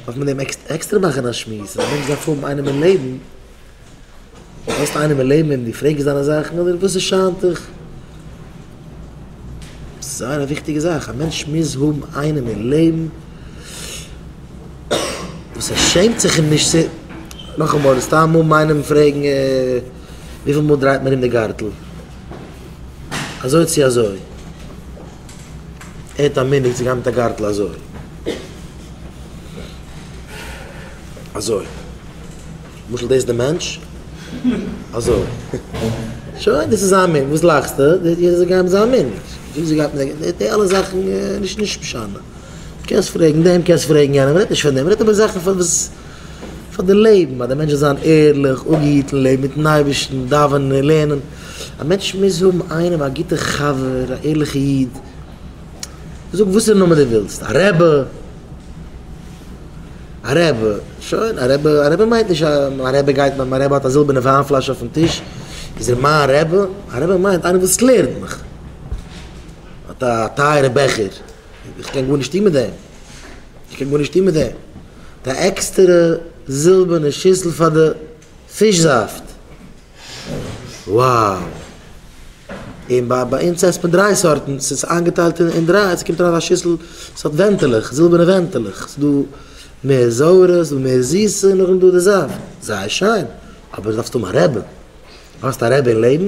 דארף מען אים עקסטער מאכן א שמועס, אז א מענטש דארף האבן איינעם אין לעבן, האסט איינעם אין לעבן וועם דו פרעגסט דיינע זאכן אדער וואס ס'שיינט דיך? עס איז זייער א וויכטיגע זאך, א מענטש מוז האבן איינעם אין לעבן וואס ער שעמט זיך אים נישט צו, נאכאמאל, סתם האבן איינעם פרעגן וויפיל מאל דרייט מען ארום די גארטל, אזוי צו אזוי. ער האט א מנהג צו גיין מיט א גארטל אזוי. אזוי. למשל דאס איז די מענטש. אזוי. שוין, דאס איז זיין מנהג. וואס לאכסטו? יעדער זאל גיין מיט זיין מנהג. וויאזוי זי גייט מיט די גארטל. די אלע זאכן איז נישט משנה. קענסט פרעגן דעם, קענסט פרעגן יענעם. מ'רעדט נישט פון דעם. מ'רעדט איבער זאכן פאר וואס, פאר די לעבן. אז דער מענטש זאל זיין ערליך, אפגעהיטן, לעבן מיט'ן אייבערשטן, דאווענען, לערנען. א מענטש מוז האבן איינעם א גוטע חבר א ערליכע איד, זאג וואס פאר נאמען דו ווילסט, א רעבע, א רעבע, שוין, א רעבע, א רעבע מיינט נישט אז מיין רעבע גייט מיט מיין רעבע האט א זילבערנע וויין פלאש אויפן טיש איז ער מיין רעבע, א רעבע מיינט איינער וואס לערנט מיך, האט א טייערע בעכער, איך קען גארנישט טון מיט דעם, איך קען גארנישט טון מיט דעם, האט א עקסטערע זילבערנע שיסל פאר די פיש זאפט. וואו און ביי ביי אונז עסט מען דריי סארטן ס'איז איינגעטיילט אין דריי ס'קומט אריין אין א שיסל ס'האט ווענטעלעך זילבערנע ווענטעלעך ס'דא מער זויערע ס'דא מער זיסע און נאכדעם דא די זאפט זייער שיין אבער דארפסט האבן א רעבע דארפסט א רעבע אין לעבן.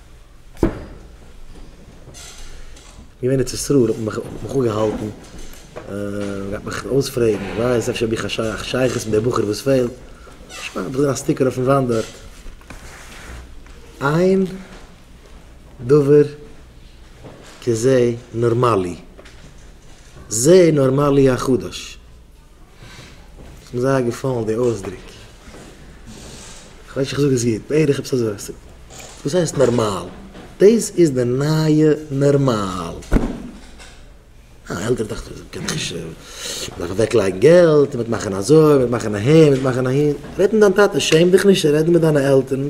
געווען אין צסרור האט מען מיך אפגעהאלטן געהאט מיך אויספרעגן ווער איך בין אפשר האב איך א שייכות מיט דער בחור וואס פעלט תשמע האב איך געזען א סטיקער אויפן וואנט דארט איין דבר כזה נארמאלי זה נארמאלי החדש. ס'איז מיר זייער געפאלן די אויסדרוק. כ'ווייס נישט אויב איך זאג עס גוט. בערך עפעס אזוי. וואס הייסט נארמאל? דאס איז די נייע נארמאל. א עלטערע דאכט זיך מ'קען נישט. מ'דארף אוועקלייגן געלט, מ'וועט מאכן אזוי, מ'וועט מאכן אהין, מ'וועט מאכן אהין. רעד מיט דיין טאטע. שעם דיך נישט צו רעדן מיט דיינע עלטערן.